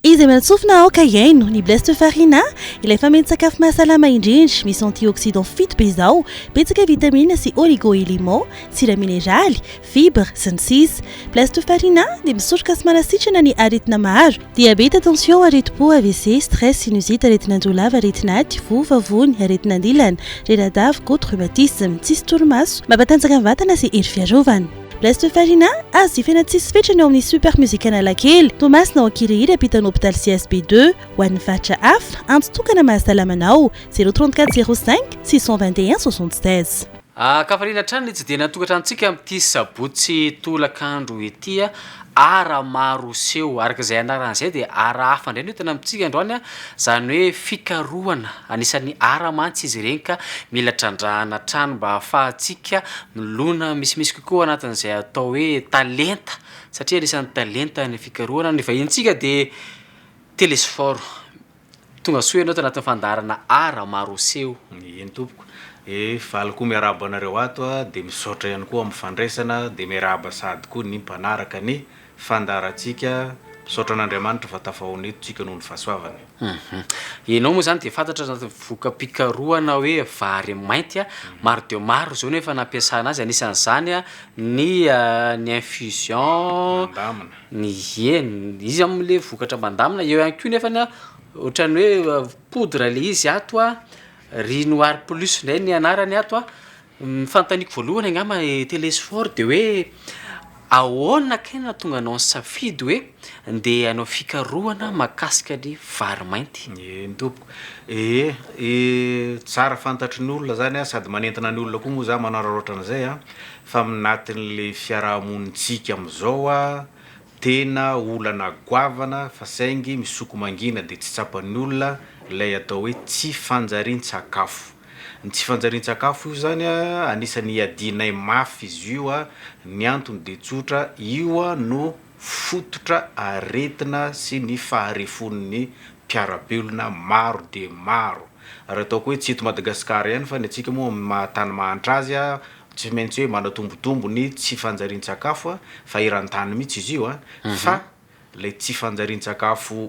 Iza amin'ny antsofina aoka hiaino ny bleste farina, ilay fameno-tsakafo mahasalama indrindra, misy antioxydants fito be izao, betsaka vitamina sy oligo-éléments, sira mineraly, fibre, sy ny sisa Plastofarina dia misoroka sy manasitrana ny aretina maro, diabeta, tension, aretim-po, avc, stress, sinusite, aretin'anjo lava, aretin'aty, voa, vavony, aretina an-dilana, reradava, gout, rhumatisme, tsisy torimaso, mampatanjaka ny vatana sy hery fiarovana. Plastofarina azo jifaina tsisy fetrany ao amin'ny Super Music Analakely, Toamasina ao Ankirihiry ampitan'ny hopitaly CSB deux. Ho an'ny faritra hafa, antso tokana mahasalama anao, zéro trente quatre zéro cinq six cent vingt et un soixante seize. Ankafaliana hatrany ny tsidena an-tokantranontsika amin'ity sabotsy tolakandro ity. Art maro seho, araka izay anarany izay dia art hafa indray no entana amintsika androany, izany hoe fikarohana. Anisan'ny art mantsy izy ireny ka mila trandrahana hatrany mba hahafahantsika milona misimisy kokoa anatin'izay atao hoe talenta, satria anisan'ny talenta ny fikarohana. Ny vahinintsika dia Telesphore. Tongasoa ianao tanatin'ny fandaharana art maro aseho. Eny tompoko e faly koa miarahaba anareo ato a de misaotra ihany koa amin'ny fandraisana de miarahaba sahady koa ny mpanaraka ny fandaharantsika misaotra an'Andriamanitra fa tafahaona eto tsika noho ny fahasoavany. Ianao moa izany dia fantatra anatin'ny voka-pikarohana hoe vary mainty a, maro dia maro izao ny efa nampiasana azy, anisan'izany ny ny infusion, Mandamina. ny eny izy am le vokatra mandamina eo ihany koa nefany a ohatran'ny hoe poudre le izy ato a riz noir plus ndray ny anarany ato a ny fanontaniako voalohany angamba telesphore de hoe ahoana kay no nahatonga anao nisafidy hoe ndeha hanao fikarohana mahakasika ny vary mainty eny tompoko ee ee tsara fantatry ny olona zany a sady manentana ny olona koa moa za manararaotra an'zay a fa mnatin'le fiarahamonintsika amzao a tena olana goavana fa saingy misoko mangina de tsy tsapan'ny olona lay atao hoe tsy fanjariantsakafo. Ny tsy fanjariantsakafo io zany a anisany iadianay mafy izy io a ny antony de tsotra io a no fototra aretina sy ny faharefon'ny mpiarabelona maro de maro ary ataoko hoe tsy eto Madagasikara ihany fa ny antsika moa amin'ny maha tany mahantra azy a Tsy maintsy hoe manatombotombo ny tsy fanjarian-tsakafo fa eran-tany mihitsy izy io fa ilay tsy fanjarian-tsakafo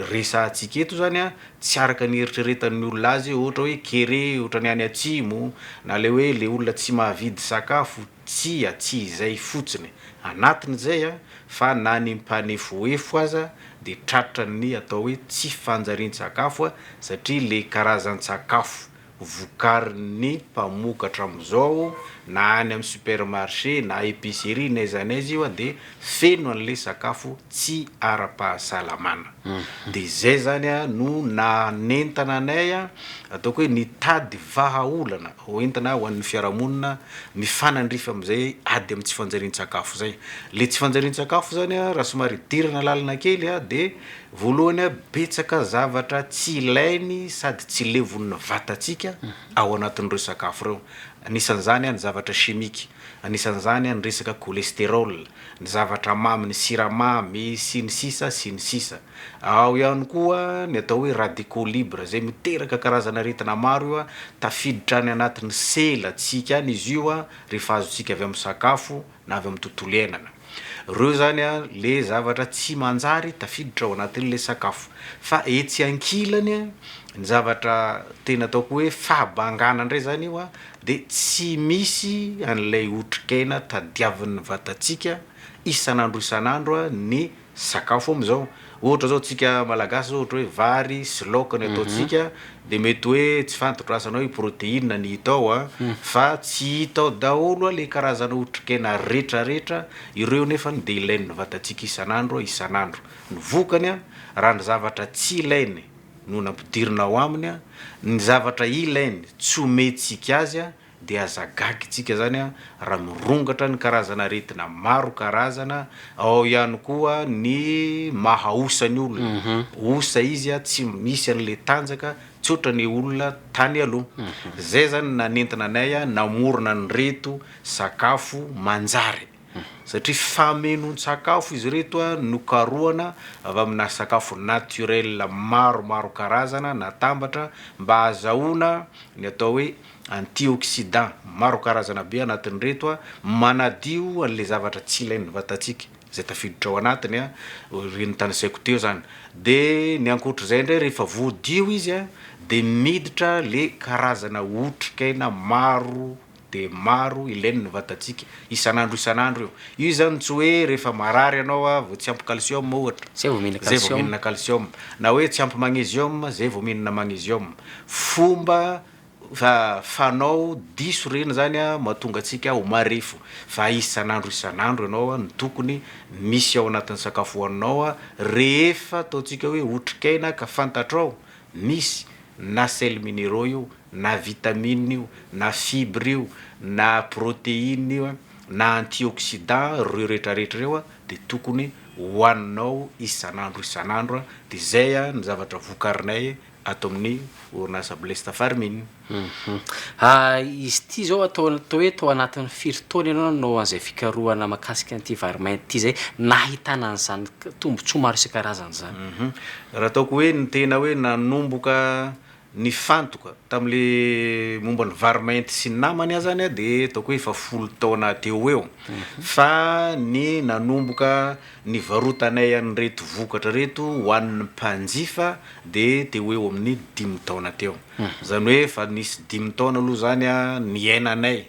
resahantsika eto izany tsy araka ny eritreretan'ny olona azy ohatra hoe kere ohatran'ny any atsimo na ilay hoe ilay olona tsy mahavidy sakafo, tsia tsy izay fotsiny anatin'izay fa na ny mpanefoefo aza dia tratran'ny atao hoe tsy fanjarian-tsakafo satria ilay karazan-tsakafo vokarin'ny mpamokatra amin'izao na any amin'ny supermarché na epicerie n'aiza n'aiza io dia feno an'ilay sakafo tsy ara-pahasalamana dia izay zany no nanentana anay ataoko hoe nitady vahaolana hoentina ho an'ny fiarahamonina mifanandrify amin'izay ady amin'ny tsy fanjarian-tsakafo izay, ilay tsy fanjarian-tsakafo zany raha somary idirana lalina kely dia. Voalohany a, betsaka zavatra tsy ilainy sady tsy levon'ny vatantsika ao anatin'ireo sakafo ireo. Anisan'izany ny zavatra chimique, anisan'izany ny resaka cholesterol, ny zavatra mamy, ny siramamy sy ny sisa sy ny sisa. Ao ihany koa ny atao hoe radicaux libres izay miteraka karazana aretina maro io a, tafiditra any anatin'ny selantsika any izy io a, rehefa azontsika avy amin'ny sakafo. na avy amin'ny tontolo iainana. Ireo izany ilay zavatra tsy manjary tafiditra ao anatin'ilay sakafo. Fa etsy ankilany, ny zavatra tena ataoko hoe fahabangana indray izany io dia tsy misy an'ilay otrikaina tadiavin'ny vatantsika isan'andro isan'andro ny sakafo amizao ohatra zao tsika malagasy zao ohatra hoe vary sy laoka ny ataontsika de mety hoe tsy fantotro asa anao hoe proteine ny hita ao a fa tsy hita ao daholo a le karazana otrikena retraretra ireo nefany de ilain'ny vatantsika isan'andro a isan'andro ny vokany a raha ny zavatra tsy ilainy no nampidirina ao aminy a ny zavatra ilainy tsy omentsika azy a dia aza gaga itsika izany raha mirongatra ny karazana aretina maro karazana, ao ihany koa ny maha osa ny olona, osa izy tsy misy an'ilay tanjaka tsy ohatran'ny olona tany aloha, izay izany nanentana anay namorona an'ireto sakafo manjary satria famenoan-tsakafo izy ireto nokarohana avy amina sakafo naturel maro maro karazana natambatra mba hazahoana ny atao hoe Antioxydants maro karazana be anatin'ireto manadio an'ilay zavatra tsy ilain'ny vatantsika izay tafiditra ao anatiny, ireny notanisaiko teo izany. Dia ny ankoatr'izay indray rehefa voadio izy dia miditra ilay karazana otrikaina maro dia maro ilain'ny vatantsika isan'andro isan'andro io. Io izany tsy hoe rehefa marary ianao vao tsy ampy calcium ohatra, izay vao mihinana calcium, na hoe tsy ampy magnesium izay vao mihinana magnesium. Fomba. Fa fanao diso reny zany a matonga antsika ho marefo fa isan'andro isan'andro ianao a no tokony misy ao anatin'ny sakafo hoaninao a rehefa ataontsika hoe otrikaina ka fantatrao misy na sel mineraux io na vitamine io na fibre io na proteine io a na antioxidant reo retraretra reo a de tokony hoaninao isan'andro isan'andro a de zay a ny zavatra vokarinay ato amin'ny orinasa Blesta Farming. Izy ity izao atao hoe tao anatin'ny firy taona ianao nanao an'izay fikarohana mahakasika an'ity vary mainty ity izay nahitana an'izany tombontsoa maro isan-karazany izany? Raha ataoko hoe ny tena hoe nanomboka nifantoka tamin'ilay momba ny vary mainty sy ny namany aho izany dia ataoko hoe efa folo taona teo ho eo fa ny nanomboka Ny varotanay an'ireto vokatra ireto ho an'ny mpanjifa dia teo ho eo amin'ny dimy taona teo. Izany hoe efa nisy dimy taona aloha izany niainanay.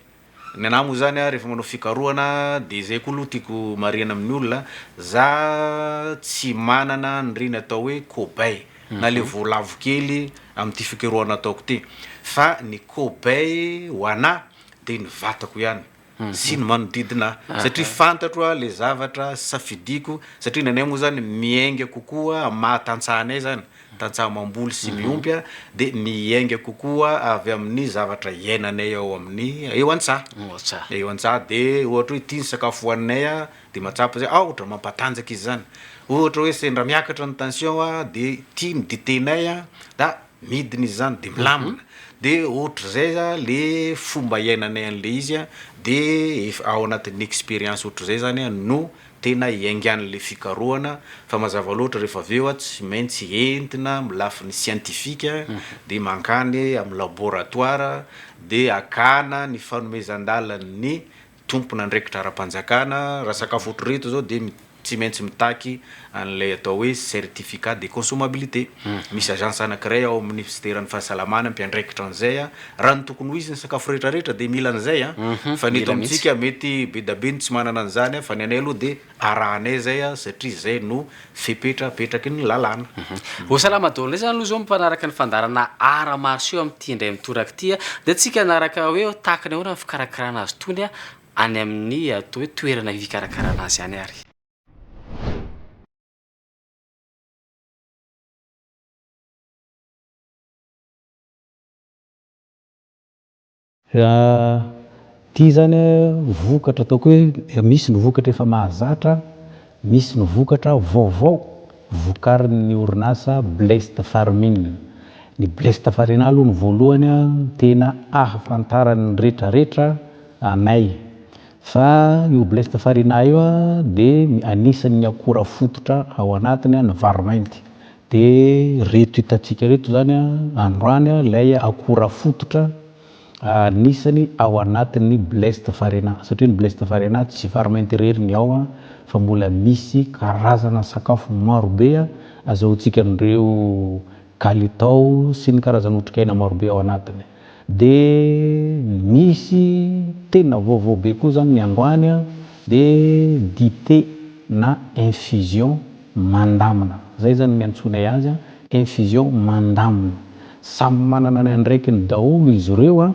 Ny anà moa izany rehefa manao fikarohana dia izay koa aloha tiako marihana amin'ny olona, za tsy manana an'ireny atao hoe kobay na ilay voalavo kely amin'ity fikarohana ataoko ity fa ny kobay ho anà dia ny vatako ihany. sy ny manodidina ahy satria fantatro aho le zavatra safidiko satria ny anay moa zany miainga kokoa am maha tantsaha anay zany tantsaha mamboly sy miompy a de miainga kokoa avy amin'ny zavatra iainanay ao amin'ny eo antsaha Eo an-tsaha. eo antsaha de ohatra hoe ity ny sakafo hoaninay a de mahatsapa zay aotra mampatanjaka izy zany ohatra hoe sendra miakatra ny tension a de ity ny ditenay a da midina izy zany de milamina de ohatrizay za le fomba iainanay anle izy a de ef ao anatin'ny experience ohatrizay zany a no tena iainganle fikarohana fa mazava loatra refa avy eo a tsy maintsy entina am lafiny scientifique de mankany am laboratoire de akana ny fanomezan-dalan'ny tompon'andraikitra ara-panjakana, raha sakafo ohatr'ireto izao dia tsy maintsy mitaky an'ilay atao hoe certificat de consommabilité. Misy agence anankiray ao amin'ny Minisiteran'ny Fahasalamana mpiandraikitra an'izay. Raha ny tokony ho izy ny sakafo rehetra rehetra dia mila an'izay fa ny eto amintsika mety be dia be ny tsy manana an'izany fa ny anay aloha dia arahanay izay satria izay no fepetrapetraky ny lalàna. Ho salama daholo indray izany aloha izao mpanaraka ny fandaharana Arts Martiaux amin'ity indray mitoraka ity dia antsika hanaraka hoe tahaka ny ahoana ny fikarakarana azy itony any amin'ny atao hoe toerana fikarakarana azy any ary. Raha ity izany vokatra ataoko hoe misy ny vokatra efa mahazatra, misy ny vokatra vaovao vokarin'ny orinasa Blest Farming. Ny Blest Farina aloha ny voalohany tena ahafantaran'ny retraretra anay fa io Blest Farina io dia anisan'ny akora fototra ao anatiny ny vary mainty. Dia ireto hitantsika ireto izany androany ilay akora fototra anisany ao anatin'ny blest farina satria ny blest farina tsy farment irery ny ao fa mbola misy karazana sakafo maro be azahoantsika an'ireo kalitao sy ny karazana otrikaina maro be ao anatiny. Dia misy tena vaovao be koa zany ny androany an, dia dite na infusion mandamina, zay zany niantsoanay azy an, infusion mandamina. Samy manana ny andraikiny daholo izy ireo an,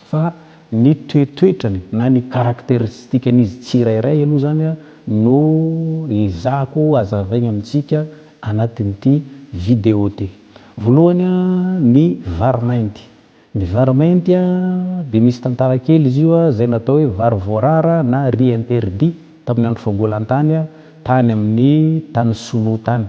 fa ny toetoetrany na ny caracteristique-ny izy tsirairay aloha zany an no ezahako hazavaina amintsika anatin'ity video ty. Voalohany ny vary mainty. Ny vary mainty dia misy tantara kely izy io izay natao hoe vary voarara na riz interdit tamin'ny andro fagolan-tany tany amin'ny tany sinoa tany.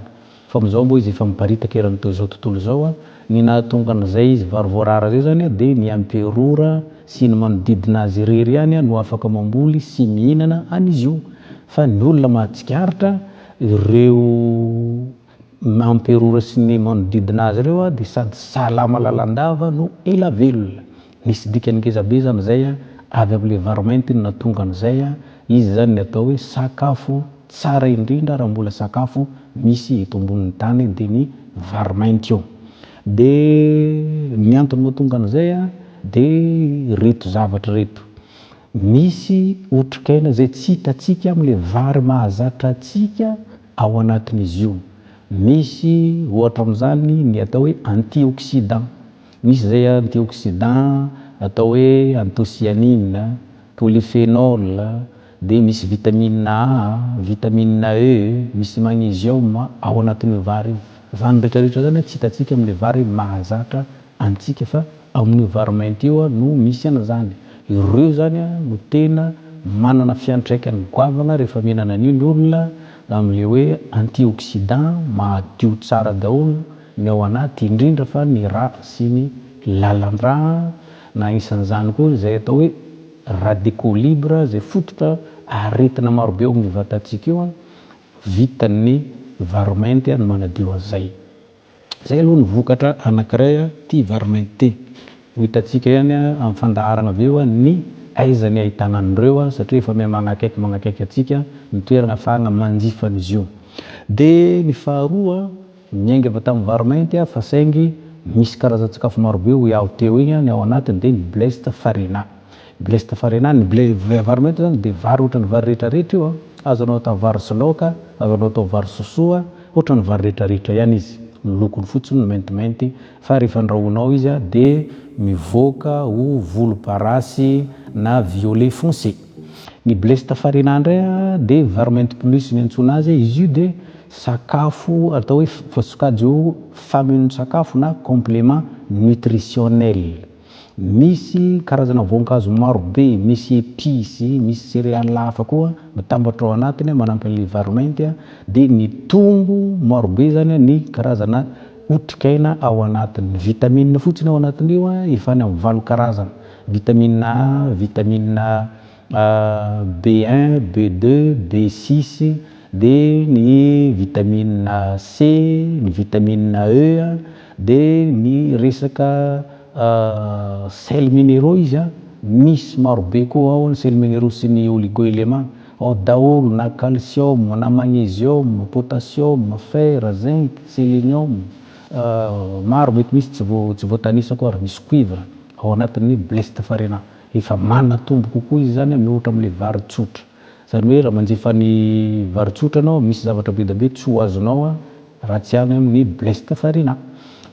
Fa amin'izao moa izy efa miparitaka eran'ny to izao tontolo izao. Ny nahatonga an'izay izy vary voarara izay izany dia ny emperora sy ny manodidina azy irery ihany no afaka mamboly sy mihinana an'izy io. Fa ny olona mahatsikaritra ireo. Ny emperora sy ny manodidina azy ireo dia sady salama lalandava no ela velona. Nisy dikany ngezabe izany izay avy amin'ilay varomainty no nahatonga an'izay. Izy izany ny atao hoe sakafo tsara indrindra raha mbola sakafo misy eto ambonin'ny tany dia ny varomainty io. Dia ny antony mahatonga an'izay dia ireto zavatra ireto. Misy otrikaina izay tsy hitantsika amin'ilay vary mahazatra antsika Ao anatin'izy io, misy ohatra amin'izany ny atao hoe antioxydant. Misy izay antioxydant atao hoe anthocyanine, polyphenol, dia misy vitamina A, vitamina E, misy magnesium ao anatin'io vary io. Izany rehetra rehetra izany tsy hitantsika amin'ny vary mahazatra antsika fa ao amin'io vary mainty io no misy an'izany. Ireo izany no tena manana fiantraikany goavana rehefa mihinana an'io ny olona amin'ilay hoe antioxydant mahadio tsara daholo ny ao anaty indrindra fa ny ra sy ny lalan-dra na isan'izany koa izay atao hoe radicaux libres izay fototra aretina marobe ao amin'ny vatantsika io. Vitan'ny vary mainty ny manadio an'izay. Izay aloha ny vokatra anankiray ity Varmint ity. Ho hitantsika ihany amin'ny fandaharana avy eo ny aiza ny ahitana an'ireo satria efa miha manakaiky manakaiky antsika ny toerana ahafahana manjifa an'izy io. Dia ny faharoa, niainga avy tamin'ny Varmint aho fa saingy misy karazan-tsakafo marobe hoy aho teo iny ny ao anatiny dia ny Blessed Farina. Blaise Tafarina any, ny vary mainty zany dia vary ohatran'ny vary rehetra rehetra io an! Azo anao atao vary sy laoka, azo anao atao vary sosoa, ohatran'ny vary rehetra rehetra ihany izy, ny lokony fotsiny no maintimainty fa rehefa andrahoinao izy an dia mivoaka ho volomparasy na violet foncé. Ny Blaise Tafarina indray an dia vary mainty plus ny antsoina azy, izy io dia sakafo atao hoe sokajy ho famille ny sakafo na complément nutritionnel. Misy karazana voankazo maro be, misy episy, misy céréales hafa koa mitambatra ao anatiny manampy an'ilay vary mainty dia mitombo maro be izany ny karazana otrikaina ao anatiny. Ny vitamines fotsiny ao anatin'io efa any amin'ny valo karazana, vitamine A, vitamine. B un, B deux, B six, dia ny vitamina C, ny vitamina E, dia ny resaka sels minéraux izy an, misy maro be koa ao ny sels minéraux sy ny oligo-éléments, ao daholo na calcium, na magnesium, potassium, fer, zinc, selenium, maro mety misy tsy voatanisako ary misy cuivre ao anatin'ny bleste farina. Efa manatombo kokoa izy izany mihoatra amin'ilay vary tsotra. Izany hoe raha manjifa ny vary tsotra ianao, misy zavatra bedabe tsy ho azonao raha tsy any amin'ny Blessed Farina.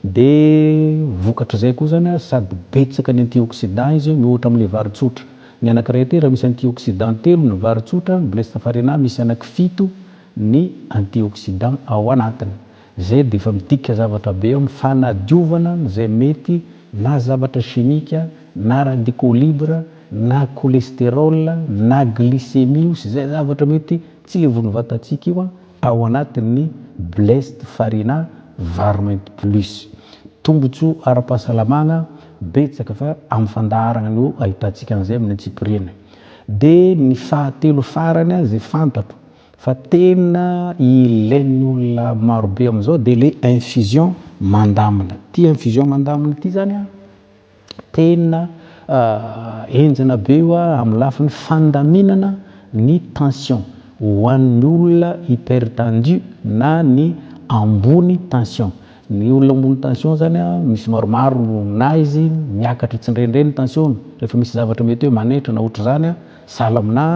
Dia vokatr'izay koa izany sady betsaka ny antioxydants izy mihoatra amin'ilay vary tsotra. Ny anankiray tera misy antioxydants telo ny vary tsotra, ny Blessed Farina misy anaky fito ny antioxydants ao anatiny. Izay dia efa midika zavatra be eo amin'ny fanadiovana izay mety na zavatra chimique na radicaux libre na cholestérol na glycémie io sy izay zavatra mety tsy levon'ny vatantsika io ao anatin'ny blessed farina varmint plus tombotsoa ara-pahasalamagna betsaka fa amin'ny fandaharagna no ahitantsika an'izay amin'ny antsipiriany. Dia ny fahatelo farany izay fantatro Fa tena ilain'ny olona marobe amin'izao dia ilay infusion mandamina. Ity infusion mandamina ity izany an, tena enjana be io amin'ny lafiny fandaminana ny tension ho an'ny olona hypertendu na ny ambony tension. Ny olona ambony tension izany an, misy maromaro no na izy miakatra io tsindrendreny ny tension-ny, rehefa misy zavatra mety hoe manaitra na ohatr'izany an, sahala aminà.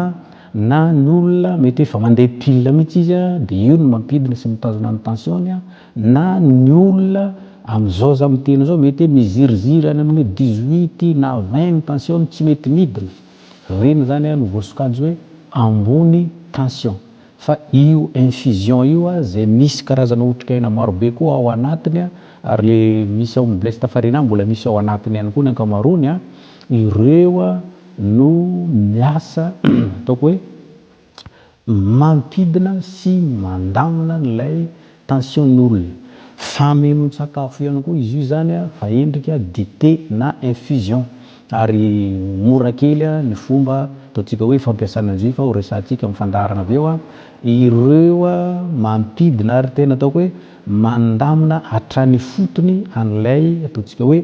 Na ny olona mety hoe efa mandeha pile mihitsy izy dia io no mampidina sy mitazona ny tension-ny, na ny olona amin'izao aza miteny izao mety hoe miziriziry any amin'ny hoe dix huit na vingt ny tension-ny tsy mety midina, ireny izany no voasokajy hoe ambony tension. Fa io infusion io izay misy karazana otrikaina maro be koa ao anatiny ary ilay misy ao amin'ny blesta farina mbola misy ao anatiny ihany koa ny ankamaroany, ireo. no ny asa ataoko hoe mampidina sy mandamina an'ilay tension'olona. Famenoan-tsakafo ihany koa izy io izany fa endrika dite na infusion ary mora kely ny fomba ataontsika hoe fampiasana an'izy io fa ho resahantsika amin'ny fandaharana avy eo ireo mampidina ary tena ataoko hoe mandamina hatrany ifotony an'ilay ataontsika hoe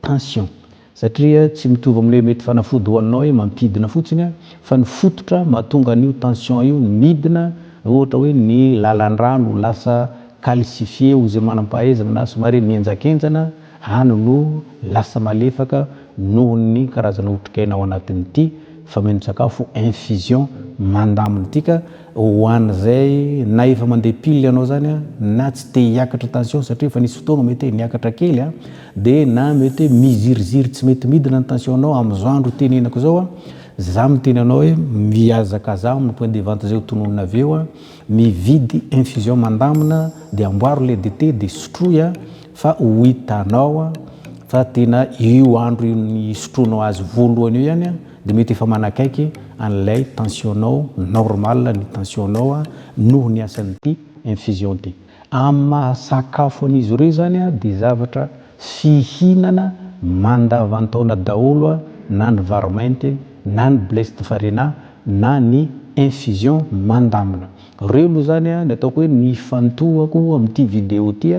tension. Satria tsy mitovy amin'ilay mety fanafody hoaninao hoe mampidina fotsiny fa ny fototra mahatonga an'io tension io midina ohatra hoe ny lalan-drano lasa calcifié hoy izay manam-pahaizana na somary mihenjankenjana any no lasa malefaka nohon'ny karazana otrikaina ao anatin'ity fameno-tsakafo infusion mandamin'ity ka Ho an'izay na efa mandeha pile ianao izany na tsy te hiakatra tension satria efa nisy fotoana mety hoe niakatra kely dia na mety hoe miziriziry tsy mety midina ny tension-nao amin'izao andro itenenako izao za miteny anao hoe mihazakazaha amin'ny point de vente izay ho tononina avy eo mividy infusion mandamina dia amboaro ilay dite dia sotroy fa ho hitanao fa tena io andro io nisotroanao azy voalohany io ihany Dia mety efa manakaiky an'ilay tension-nao normal ny tension-nao noho ny asan'ity infusion ity. Amin'ny maha sakafo an'izy ireo izany dia zavatra fihinana mandavan-taona daholo na ny vary mainty na ny blessed farina na ny infusion mandamina. Reo aloha zany ny ataoko hoe ny ifantohako amin'ity vidéo ity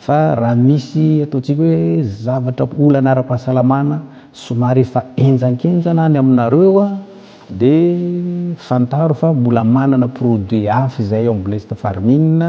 fa raha misy ataontsika hoe zavatra olana ara-pahasalamana somary efa henjankenjana any aminareo de fantaro fa mbola manana produit hafa izahay ao amin'ny Blessed Farming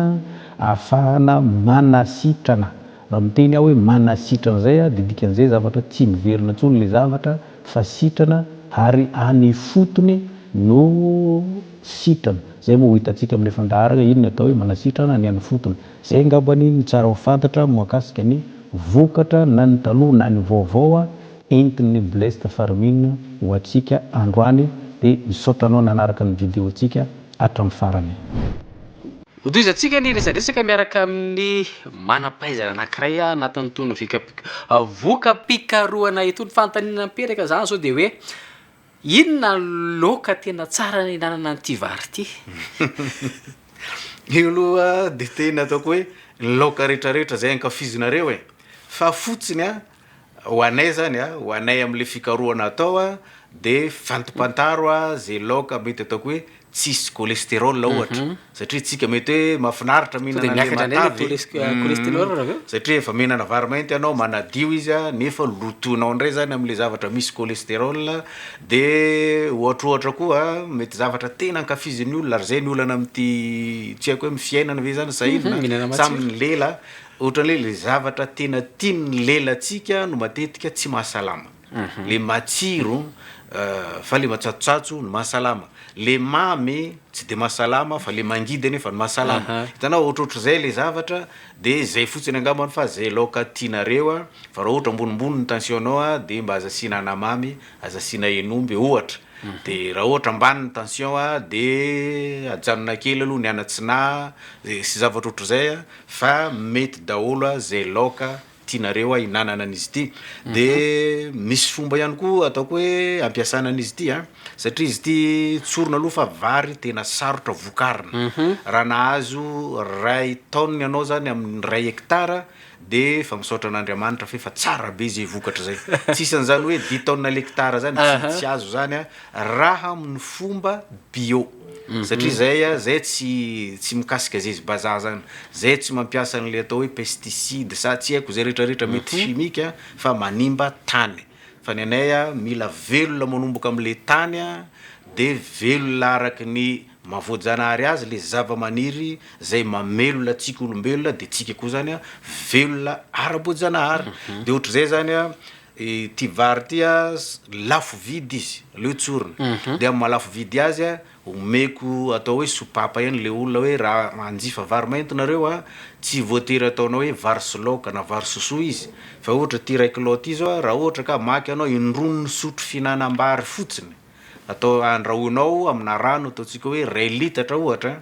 ahafahana manasitrana Raha miteny aho hoe manasitrana izay dia dikan'izay zavatra tsy miverina intsony ilay zavatra fa sitrana ary any ifotony no sitrana. Izay moa ho hitantsika amin'ny fandaharana inona atao hoe manasitrana ny any ifotony. Izay angamba ny tsara ho fantatra mahakasika ny vokatra na ny taloha na ny vaovao entin'ny Blessed Farming ho antsika androany dia misaotra anao nanaraka ny video-ntsika hatramin'ny farany. Hotohizantsika ny resadresaka miaraka amin'ny manam-pahaizana anankiray anatin'itony voka-pikarohana itony. Fanontaniana mipetaka izany izao dia hoe inona no loaka tena tsara nihinanana an'ity vary ity? Io aloha dia tena ataoko hoe ny laoka rehetrarehetra izay ankafizinareo e, fa fotsiny Ho anay zany a, ho anay amle fikarohana atao a, de fantopantaro a ze laoka mety ataoko hoe tsisy cholesterol ohatra, satria tsika mety hoe mafinaritra mihinana anle matavy e, satria efa mihinana vary mainty anao manadio izy a, nefa lotonao ndray zany amle zavatra misy cholesterol, de ohatrohatra koa mety zavatra tena ankafizin'ny olona, ary zay ny olana amty tsy haiko hoe am fiainana ve zany sa inona, samy ny lela Ohatran'ny hoe le zavatra tena tian'ny lelantsika no matetika tsy mahasalama. Le matsiro fa le matsatsotsatso no mahasalama. Le mamy tsy de mahasalama fa le mangidy anefa no mahasalama. Hitanao, ohatrohatr'izay le zavatra de zay fotsiny angambany fa zay laoka tianareo a, fa raha ohatra ambonimbony ny tension-nao a de mba aza asiana anamamy, aza asiana hen'omby ohatra. De raha ohatra ambany ny tension a de ajanona kely aloha ny an'atsinahy sy zavatra ohatr'izay a. fa mety daholo a zay laoka tianareo a inanana an'izy ity de misy fomba ihany koa ataoko hoe ampiasana an'izy ity a satria izy ity tsorina aloha fa vary tena sarotra vokarina raha nahazo ray tonne ianao zany amin'ny ray hectare de efa misaotra an'Andriamanitra fa efa tsara be zay vokatra zay tsy isan'izany hoe dix tonne l'hectare zany tsy azo zany a raha amin'ny fomba bio. Satria zay a, zay tsy tsy mikasika zay izy bazaha zany, zay tsy mampiasa an'le atao hoe pesticide sa tsy haiko zay retraretra mety chimique a fa manimba tany, fa ny anay a mila velona manomboka am'le tany a de velona araky ny maha voajanahary azy le zavamaniry zay mamelona antsika olombelona de tsika koa zany a velona ara-boajanahary, de ohatr'izay zany a Ity vary ity a, lafo vidy izy, aleo tsorina. Dia amin'ny maha-lafo vidy azy a, omeko atao hoe sopapa ihany ilay olona hoe raha hanjifa vary mainty nareo a, tsy voatery ataonao hoe vary sy laoka na vary sosoa izy, fa ohatra ity iray kilao ity izao a, raha ohatra ka hamaky ianao, indroa misotro fihinanam-bary fotsiny. atao andrahoina ao amina rano ataontsika hoe iray litatra ohatra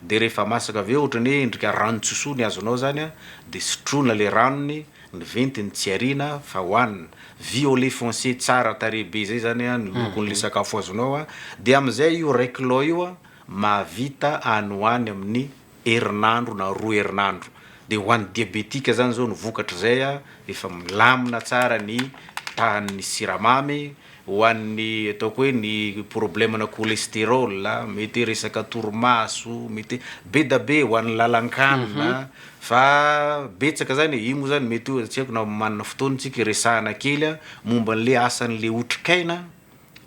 de rehefa masaka avy eo ohatrany hoe endrika ranon-tsosony ny azonao zany a de sotroina le ranony ny ventiny tsy ariana fa hoanina violet foncé tsara tarehy be zay zany a ny lokon'le sakafo azonao a de amizay io iray kilao io a mahavita any ho any amin'ny herinandro na roa herinandro dia ho an'ny diabetika zany zao ny vokatr'izay a, efa milamina tsara ny tahan'ny siramamy, ho an'ny ataoko hoe ny problème-na cholesterol, mety hoe resaka torimaso, mety hoe bedabe ho an'ny lalan-kanina fa betsaka zany e, io moa zany mety hoe tsy haiko na manana fotoana tsika hiresahana kely a, momba an'le asan'le otrikaina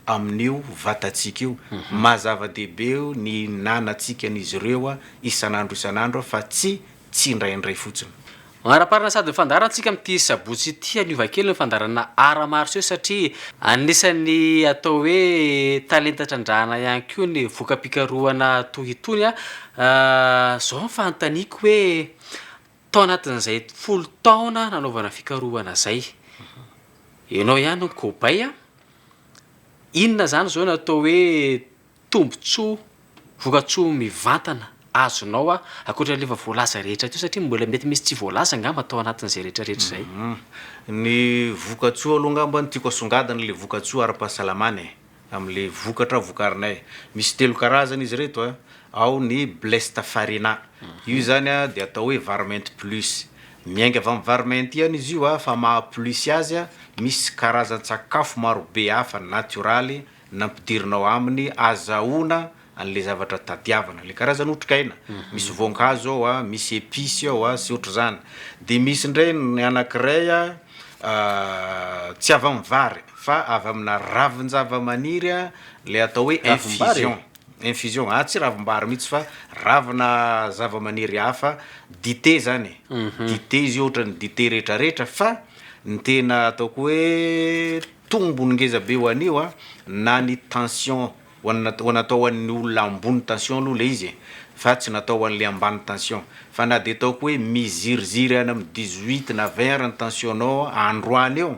amin'io vatantsika io. Maha zava-dehibe ny ihinanantsika an'izy ireo isan'andro isan'andro fa tsy tsindraindray fotsiny. Manaraparana sady mifandaharantsika amin'ity sabotsy ity haniova kely ny fandaharana Art Martiaux satria anisan'ny atao hoe talenta trandrahana ihany koa ny voka-pikarohana toy itony. Izao ny fanontaniako hoe Tao anatin'izay folo taona nanaovana fikarohana izay, ianao ihany no cobaye a! Inona izany izao no atao hoe tombontsoa, vokatsoa mivantana azonao ankoatra an'ilay efa voalaza rehetra teo satria mbola mety misy tsy voalaza angamba tao anatin'izay rehetrarehetra izay? Ny vokatsoa aloha angamba no tiako asongadina ilay vokatsoa ara-pahasalamana e! amin'ilay vokatra vokarinay. Misy telo karazana izy ireto a, ao ny Blesta Farina, io izany a dia atao hoe vary mainty plus, miainga avy amin'ny vary mainty ihany izy io a, fa maha plus azy a, misy karazan-tsakafo marobe hafa natioraly nampidirina ao aminy azahoana an'ilay zavatra tadiavana, ilay karazana otrikaina, misy voankazo ao a, misy epices ao a, sy ohatr'izany, dia misy indray ny anankiray a tsy avy amin'ny vary fa avy amina ravin-javamaniry a, ilay atao hoe infusion, infusion, ah tsy ravim-bary mihitsy fa ravina zavamaniry hafa, dite izany e, dite izy io ohatran'ny dite rehetra rehetra fa ny tena ataoko hoe tombony ngeza be ho an'io a, na ny tension Ho an'ny ho natao ho an'ny olona ambony tension aloha ilay izy e, fa tsy natao ho an'ilay ambany tension. Fa na dia ataoko hoe miziriziry any amin'ny dix huit na vingt ary ny tension-nao androany eo,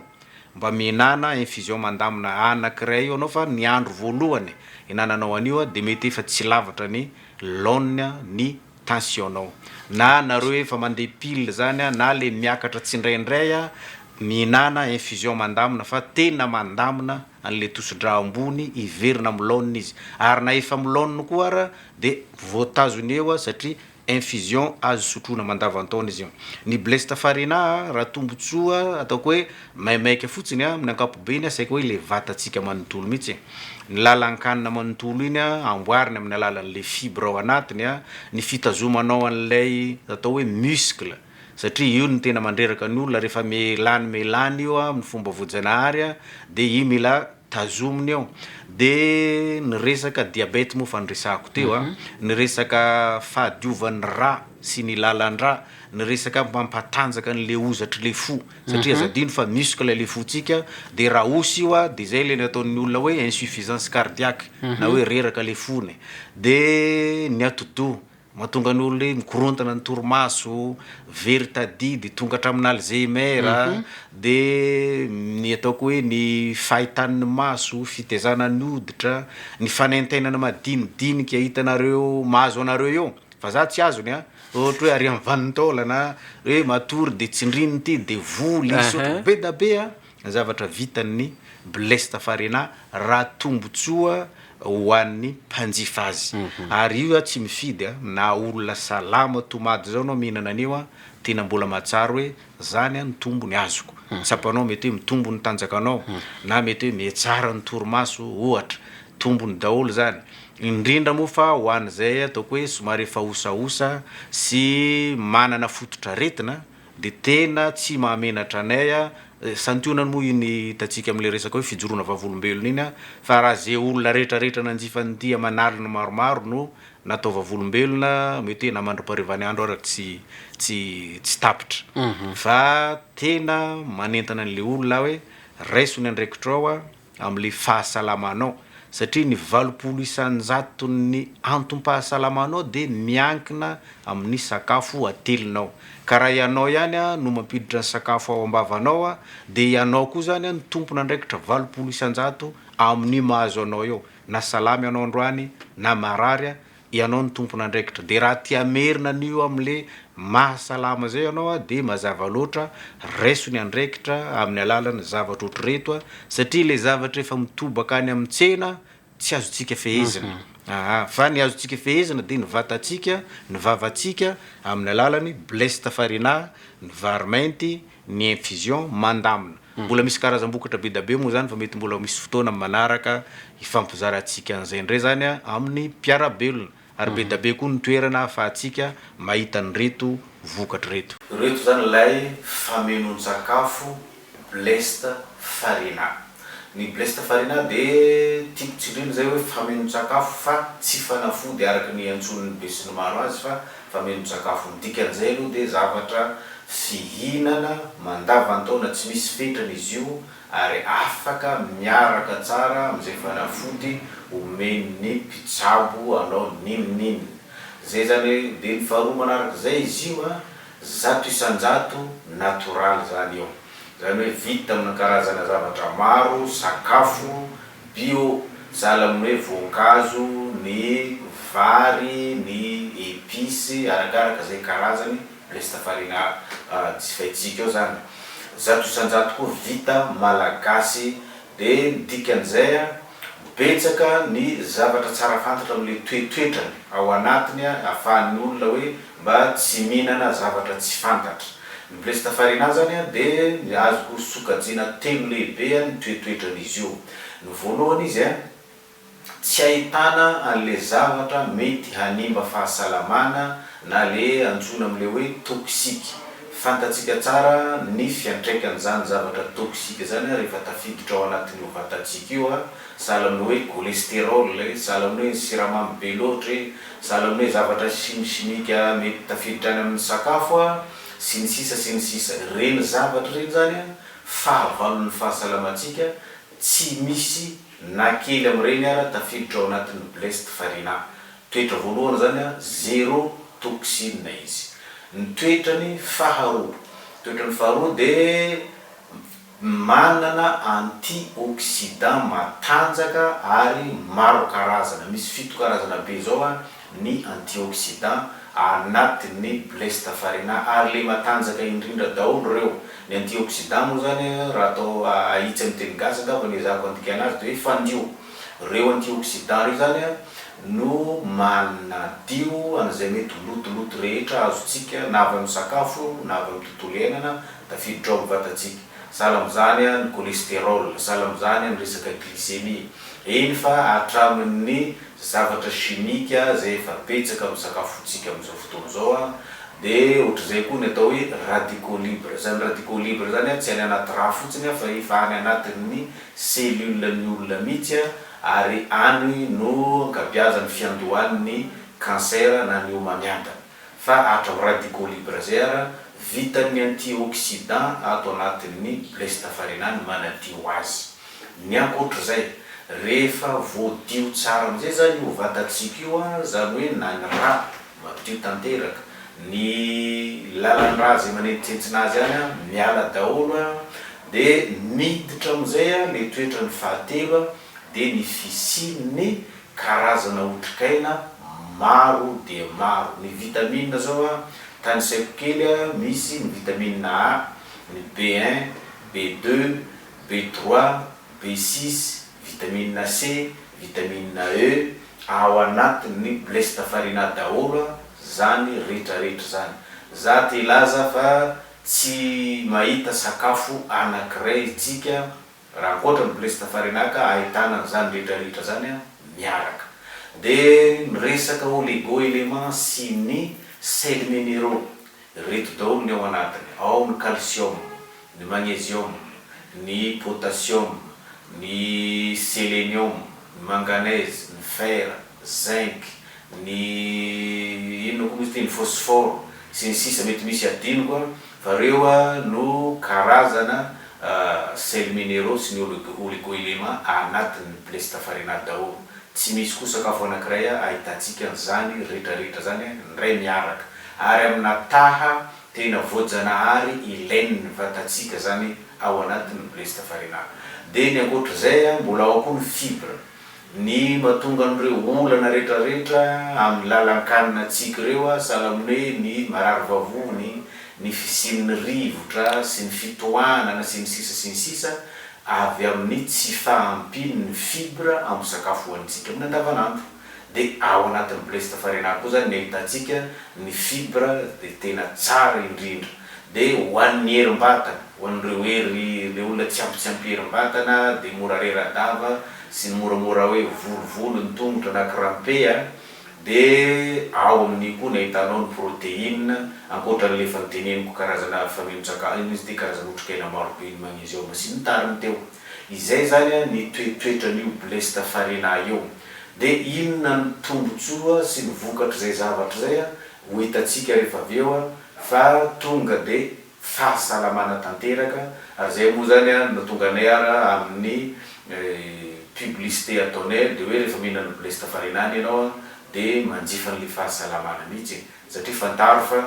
mba mihinana infusion mandamina anankiray eo ianao fa ny andro voalohany ihinananao an'io dia mety efa tsy lavitra ny laoniny ny tension nao na nareo efa mandeha pile zany a na le miakatra tsindraindray a mihinana infusion mandamina fa tena mandamina anle tosidra ambony hiverina am laoniny izy ary na efa am laoniny koa ara de voatazony eo a satria infusion azo sotroina mandavantaona izy io ny blesta farina a raha tombotsoa ataoko hoe Maimaika fotsiny a, amin'ny ankapobeny a, saika hoe ilay vatantsika manontolo mihitsy e. Ny lalan-kanina manontolo iny a, amboariny amin'ny alalan'ilay fibre ao anatiny a, ny fitazomanao an'ilay atao hoe muscle, satria io no tena mandreraka ny olona, rehefa melany melany io a, amin'ny fomba voajanahary a, dia io mila tazomina eo. Dia ny resaka diabety moa efa noresahako teo a, ny resaka fahadiovan'ny rà sy ny lalan-drà, ny resaka mampatanjaka an'ilay hozatr'ilay fo Satria aza adino fa muscle ilay fontsika, dia raha osa io dia izay ilay nataon'ny olona hoe insuffisance cardiaque, na hoe reraka ilay fony e. Dia ny atidoha, mahatonga ny olona hoe mikorontana ny torimaso, very tadia, dia tonga hatramin'ny Alzheimer, dia ny ataoko hoe ny fahitan'ny maso, fitezana ny hoditra, ny fanaintainana madinidinika hitanareo mahazo anareo eo, fa za tsy azony an! Ohatra hoe ary amin'ny vanin-taolana hoe matory dia tsindriny ity devoly izy sotro be da be a! ny zavatra vitan'ny Blaise Tafarina raha tombotsoa ho an'ny mpanjifa azy ary io aho tsy mifidy a! na olona salama tomady zao anao mihinana an'io a! tena mbola mahatsiaro hoe Zany an ny tombony azoko tsapanao mety hoe mitombo ny tanjakanao na mety hoe mihetsara ny torimaso ohatra, tombony daholo zany indrindra moa fa ho an'izay ataoko hoe somary efa osaosa sy manana fototr'aretina de tena tsy mahamenatra anay a, santionany moa iny hitantsika amle resaka hoe fijoroana vavolombelona iny a, fa raha ze olona retraretra nanjifa an'ity aman'aliny maromaro no na atao vavolombelona, mete na mandra-paharivan'ny andro ara tsy tsy tsy tapitra. Fa tena manentana an'ilay olona aho hoe raiso ny andraikitrao amin'ilay fahasalamanao satria ny valopolo isan-jaton'ny antom-pahasalamanao dia miankina amin'ny sakafo atelinao. Ka raha ianao ihany no mampiditra ny sakafo ao am-bavanao dia ianao koa izany no tompon'andraikitra valopolo isan-jato amin'ny mahazo anao eo. na salama ianao androany na marary a, ianao no tompon'andraikitra de raha te hamerina an'io amle maha salama zay ianao a de mazava loatra raiso ny andraikitra amin'ny alalan'ny zavatra ohatrireto a, satria le zavatra efa mitobaka any amin'ny tsena tsy azontsika fehezina aa, fa ny azontsika fehezina de ny vatantsika, ny vavantsika amin'ny alalan'ny bleste farinà, ny vary mainty, ny infusion mandamina. Mbola misy karazam-bokatra be da be moa izany fa mety mbola ho misy fotoana amin'ny manaraka hifampizarantsika an'izay indray izany amin'ny mpiara-belona. Ary be da be koa ny toerana ahafahantsika mahita an'ireto vokatra ireto. Ireto izany ilay famenoan-tsakafo blessed farina. Ny blesta farina dia tiako tsindrina izay hoe fameno-tsakafo fa tsy fanafody araka ny iantsoan'ny besinimaro azy fa fameno-tsakafo. Ny dikan'izay aloha dia zavatra fihinana mandavan-taona tsy misy fetrany izy io ary afaka miaraka tsara amin'izay fanafody omen'ny mpitsabo anao n'inon'inona. Izay izany dia ny faharoa manarak'izay izy io a, zato isan-jato natoraly izany io. Izany hoe vita amina karazana zavatra maro, sakafo, bio, sahala amin'ny hoe voankazo, ny vary, ny épices, arakaraka izay karazany, resta farine jifaintsika ao izany. Zato isan-jato koa vita malagasy. Dia ny dikan'izay, betsaka ny zavatra tsara fantatra amin'ilay toetoetrany ao anatiny, ahafahan'ny olona hoe mba tsy mihinana zavatra tsy fantatra. Ny Blesta farina azany dia azoko sokajiana telo lehibe ny toetoetran'izy io. Ny voalohany izy tsy ahitana an'ilay zavatra mety hanimba fahasalamana na ilay antsoina amin'ilay hoe toxique. Fantatsika tsara ny fiantraikan'izany zavatra toxique izany rehefa tafiditra ao anatin'io vatantsika io, sahala amin'ny hoe cholesterol e, sahala amin'ny hoe ny siramamy be loatra e, Sahala amin'ny hoe zavatra chimi chimique mety tafiditra any amin'ny sakafo a, sy ny sisa sy ny sisa. Ireny zavatra ireny izany a, fahavalon'ny fahasalamantsika, tsy misy na kely amin'ireny ara tafiditra ao anatin'ny blessed farina. Toetra voalohany izany a, zero toxine izy. Ny toetrany faharoa, toetrany faharoa dia, Manana antioxydants matanjaka ary maro karazana. Misy fito karazana be zao a ny antioxydants anatin'ny blés tafarina ary le matanjaka indrindra daholo reo. Ny antioxydants moa zany a raha atao ahitsy amin'ny teny gasy angamba ny ezahako andikana azy de hoe fandio. Reo antioxydants reo zany a no manadio an'izay mety ho lotoloto rehetra azontsika na avy amin'ny sakafo io na avy amin'ny tontolo iainana Tafiditra ao amin'ny vatantsika. Sahala amin'izany ny cholestérol, sahala amin'izany ny resaka glycémie. Eny fa hatramin'ny zavatra chimique izay efa betsaka amin'ny sakafontsika amin'izao fotoana izao dia ohatr'izay koa ny atao hoe radicaux libres. Izany radicaux libres izany tsy any anaty rà fotsiny fa efa any anatin'ny cellules-n'ny olona mihitsy ary any no ankabeazan'ny fiandohan'ny cancer na ny homamiadana. Fa atra ho radicolibre zay ara vitan'ny antioxidant ato anatin'ny ble sitafarina ny manadio azy. Ny ankoatr'izay, rehefa voadio tsara amizay zany io vatantsika io a, zany hoe na ny ra madio tanteraka, ny lalan-dra zay manentsintsina azy any a miala daholo a, de miditra amizay a le toetrany fahatelo a, de ny fisian'ny. Karazana otrikaina maro dia maro. Ny vitamina zao a, tanisaiko kely a, misy ny vitamina A, ny B un, B deux, B trois, B six, vitamina C, vitamina E, ao anatin' ny blesta farina daholo a zany retraretra zany. Za te hilaza fa tsy mahita sakafo anakiray tsika. Raha ankoatra ny Blessed Farinaka ahitana an'izany rehetra rehetra izany miaraka. Dia miresaka oligo éléments sy ny sels minéraux. Ireto daholo ny ao anatiny, ao ny calcium, ny magnesium, ny potassium, ny selenium, ny manganèse, ny fer. zinc, ny inona koa moa izy ity, ny phosphore sy ny sisa mety misy adinoko an, fa reo no karazana sels minéraux sy ny oligoéléments anatin'ny plestafarinat daholo, tsy misy koa sakafo anakiray ahitantsika an'izany retraretra izany indray miaraka, ary amina taha tena voajanahary ilain'ny vatantsika izany ao anatin'ny plestafarinat, dia ny ankoatr'izay mbola ao koa ny fibres. Ny mahatonga an'ireo olana retraretra amin'ny lalan-kanina tsiky ireo sahalan'ny hoe ny marary vavony, ny fisian'ny rivotra sy ny fitohanana sy ny sisa sy ny sisa avy amin'ny tsy fahampian'ny fibra amin'ny sakafo hohanintsika amin'ny andavanandro. Dia ao anatin'ny blé sy tafarenary koa izany ny ahitantsika ny fibra dia tena tsara indrindra. Dia ho an'ny herim-batana, ho an'ireo hery, ilay olona tsy ampy tsy ampy herim-batana, dia mora rera-dava, sy ny moramora hoe volovolo ny tongotra na crampe, dia ao amin'io koa no ahitanao ny protéine, ankoatra an'ilay efa noteneniko karazana faminon-tsakafo, inona izy ity, karazana otrikaina maro be ny magnesium sy ny tariny teo. Izay izany ny toetoetran'io blesta farina io. Dia inona ny tombontsoa sy ny vokatr'izay zavatra izay? Ho hitantsika rehefa avy eo fa tonga dia fahasalamana tanteraka ary izay moa izany no tonga anay ary amin'ny publicité ataonay dia hoe rehefa mihinana blés tafarinany ianao dia manjifa an'ilay fahasalamana mihitsy e! satria fantaro fa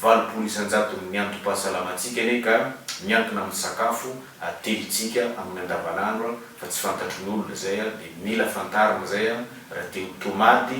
valopolo isan-jaton'ny antom-pahasalamantsika anie ka miankina amin'ny sakafo atelintsika amin'ny andavanandro fa tsy fantatry ny olona izay dia mila fantarina izay raha te ho tomady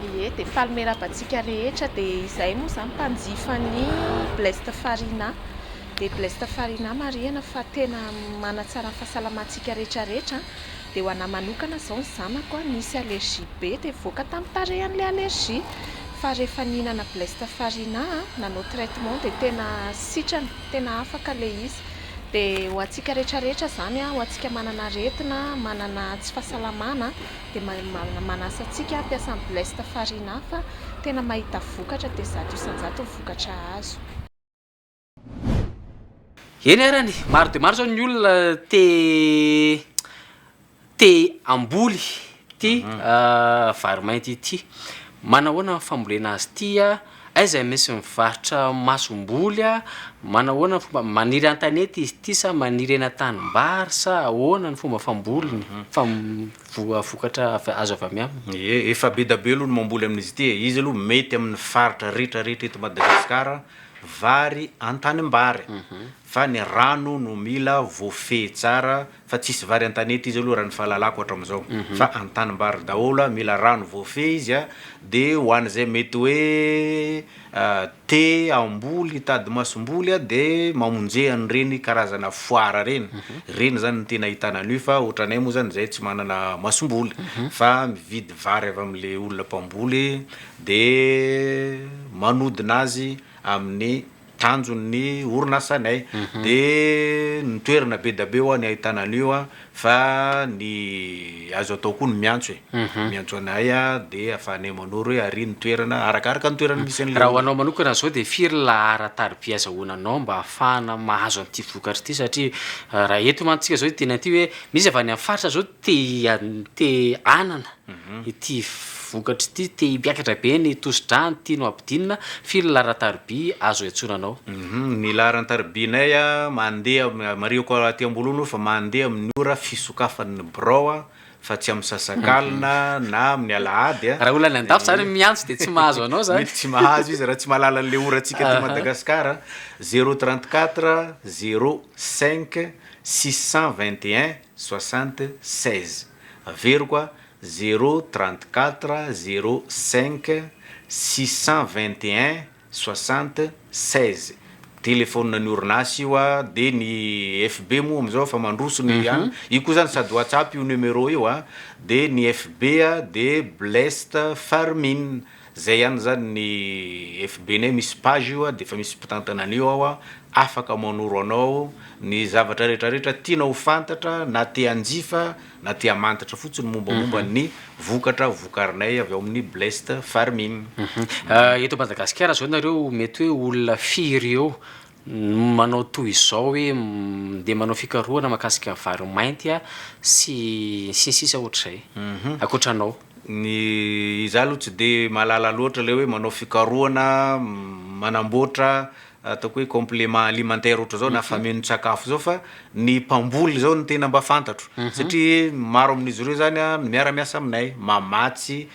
Ie dia faly miarahaba antsika rehetra dia izahay moa izany mpanjifa ny bleste farina dia bleste farina marihana fa tena manatsara ny fahasalamantsika rehetra rehetra dia ho anah manokana izao ny zanako nisy allergie be dia nivoaka tamin'ny tarehany ilay allergie fa rehefa nihinana bleste farina nanao traitement dia tena sitrana tena afaka ilay izy dia ho antsika rehetra rehetra izany ho antsika manana aretina manana tsy fahasalamana dia manasa antsika hampiasa ny blest farine hafa tena mahita vokatra dia zato isanjato ny vokatra azo. Eny arany e, maro dia maro izao ny olona te te hamboly ity vary mainty ity. Manahoana ny fambolena azy ity? Aiza no misy mivarotra masomboly a? Manahoana ny fomba, maniry an-tanety izy ity sa maniry eny an-tanimbary sa ahoana ny fomba famboliny, fam- voa- vokatra avy- azo avy aminy? Ie, efa be da be aloha ny mamboly amin'izy ity e! Izy aloha mety amin'ny faritra rehetra rehetra eto Madagasikara, vary an-tanimbary, fa ny rano no mila voafehy tsara, fa tsisy vary antanety izy aloha raha ny fahalalako hatramizao fa antanimbary daholo a, mila rano voafehy izy a, de ho an'izay mety hoe te hamboly hitady masomboly a de mamonje an'ireny karazana foara reny, reny zany no tena ahitana an'io fa otranay moa zany zay tsy manana masomboly fa mividy vary avy amle olona mpamboly de manodina azy amin'ny. tanjon'ny orinasanay de ny toerana be dabe hoany ahitana an'io a fa ny azo atao koa ny miantso e miantso anay a de afahanay manoro hoe ary ny toerana arakaraka ny toerana misy an'le olona. Raha ho anao manokana zao de firy ny lahara tariby azahoana anao mba afahana mahazo an'ity vokatra ity satria raha eto mantsika zao teny aty hoe misy avy any amin'ny faritra zao te te hanana Ity vokatra ity te himpiakatra be ny tosi-dra ny tianao hampidinina, firy ny laharan-tariby azo iantsoranao? Ny laharan-taribinay mandeha, marihiko aty am-bolonao fa mandeha amin'ny ora fisokafan'ny birao fa tsy amin'ny sasakalina na amin'ny alahady. Raha olona any an-dafy izany miantso dia tsy mahazo anao izany. Mety tsy mahazo izy raha tsy mahalala an'ilay ora antsika aty Madagasikara, zéro trente quatre zéro cinq six cent vingt et un soixante seize. Averiko a, zéro trente quatre zéro cinq six cent vingt et un soixante seize telephone ny orinasa io a, dia ny FB moa amin'izao efa mandroso ny an, io koa izany sady WhatsApp io numéro io a, dia ny FB dia blest fermin Zay ihany zany ny FB nay misy page io a de efa misy mpitantana an'io ao a, afaka manoro anao ny zavatra rehetra rehetra tianao ho fantatra na te hanjifa na te hamantatra fotsiny mombamomba ny vokatra vokarinay avy ao amin'ny Blessed Farming. Eto Madagasikara zao nareo mety hoe olona firy eo no manao toy izao hoe mndeha manao fikarohana makasika vary mainty a sy sy ny sisa ohatr'izay ankoatra anao. Ny izaho aloha tsy dia mahalala loatra ilay hoe manao fikarohana manamboatra ataoko hoe complement alimentaire ohatry izao na famenon-tsakafo izao fa ny mpamboly izao no tena mba fantatro satria maro amin'izy ireo izany a miara-miasa aminay mamatsy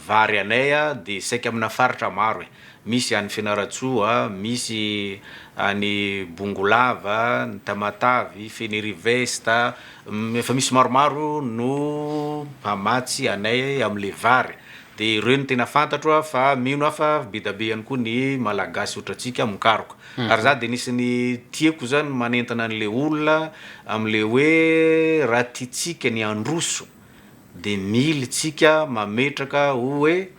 vary anay a dia saika amina faritra maro e. Misy any Fianarantsoa, misy any Bongolava, ny Tamatavy, Fenirivest, efa misy maromaro no mpamatsy anay amin'ilay vary. Dia ireo no tena fantatro fa mino aho fa be dia be ihany koa ny Malagasy ohatrantsika mikaroka. Ary izaho dia anisan'ny tiako izany manentana an'ilay olona amin'ilay hoe raha tiantsika ny handroso dia mily tsika mametraka hoe.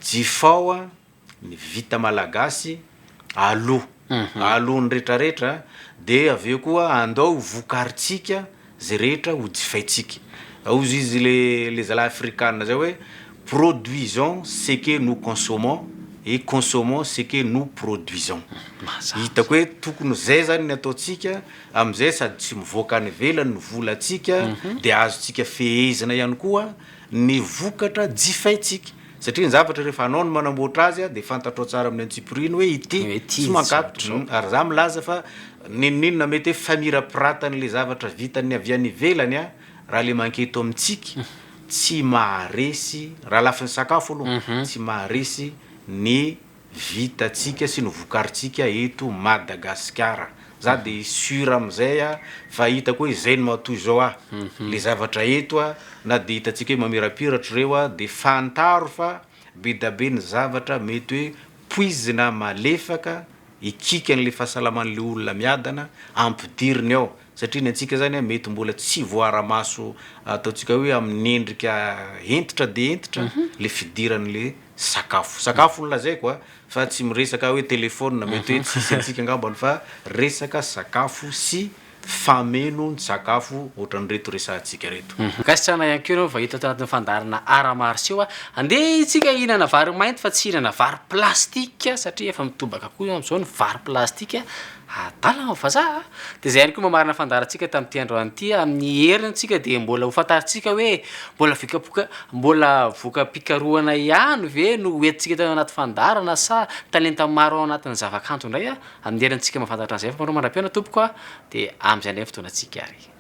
Jifao a ny vita malagasy aloha aloha ny rehetra rehetra de avy eo koa andao ho vokarintsika ze rehetra ho jifaintsika hozy izy le le zalahy afrikana zay hoe produisons ce que nous consommons et consommons ce que nous produisons hitako hoe tokony zay zany ny ataontsika amizay sady tsy mivoaka any ivelany ny volantsika de azontsika fehezina ihany koa ny vokatra jifaintsika satria ny zavatra rehefa anao no manamboatra azy dia fantatrao tsara amin'ny antsipiriany hoe ity tsy mankatotra ary za milaza fa n'inon'inona mety hoe famirapiratan' ilay zavatra vitan'ny avy any ivelany a raha le mank eto amintsika tsy maharesy raha lafiny sakafo aloha tsy maharesy ny vitantsika sy ny vokarintsika eto Madagasikara. Za de sur amizay a fa hitako hoe zay no matoa izao a le zavatra eto a na de hitantsika hoe mamirapiratra reo a de fantaro fa bedabe ny zavatra mety hoe poizina malefaka hikiky anle fahasalamanle olona miadana ampidiriny ao satria ny antsika izany mety mbola tsy voara-maso ataontsika hoe amin'ny endrika hentitra dia hentitra ilay fidiran'ilay sakafo. Sakafo no lazaiko a, fa tsy miresaka hoe telefaonina, mety hoe tsisy antsika angambany fa resaka sakafo sy famenon-tsakafo ohatran'ireto resahantsika ireto. Ankasitrahana ihany koa ianao vahiny tato anatin'ny fandaharana Art Martiaux a! Andeha isika hihinana vary mainty fa tsy hihinana vary plastika satria efa mitobaka koa amin'izao ny vary plastika. Adala ny vazaha dia izay ihany koa mamarana fandaharantsika tamin'ity androany ity amin'ny herintsika dia mbola ho fantarintsika hoe mbola vikapoka mbola voka-pikarohana ihany ve no ho entintsika eto anaty fandaharana sa talenta maro ao anatin'ny zavakanto indray amin'ny herintsika mahafantatra an'izay fa manaoa mandra-pihaona tompoko a dia amin'izay indray ny fotoanantsika ary.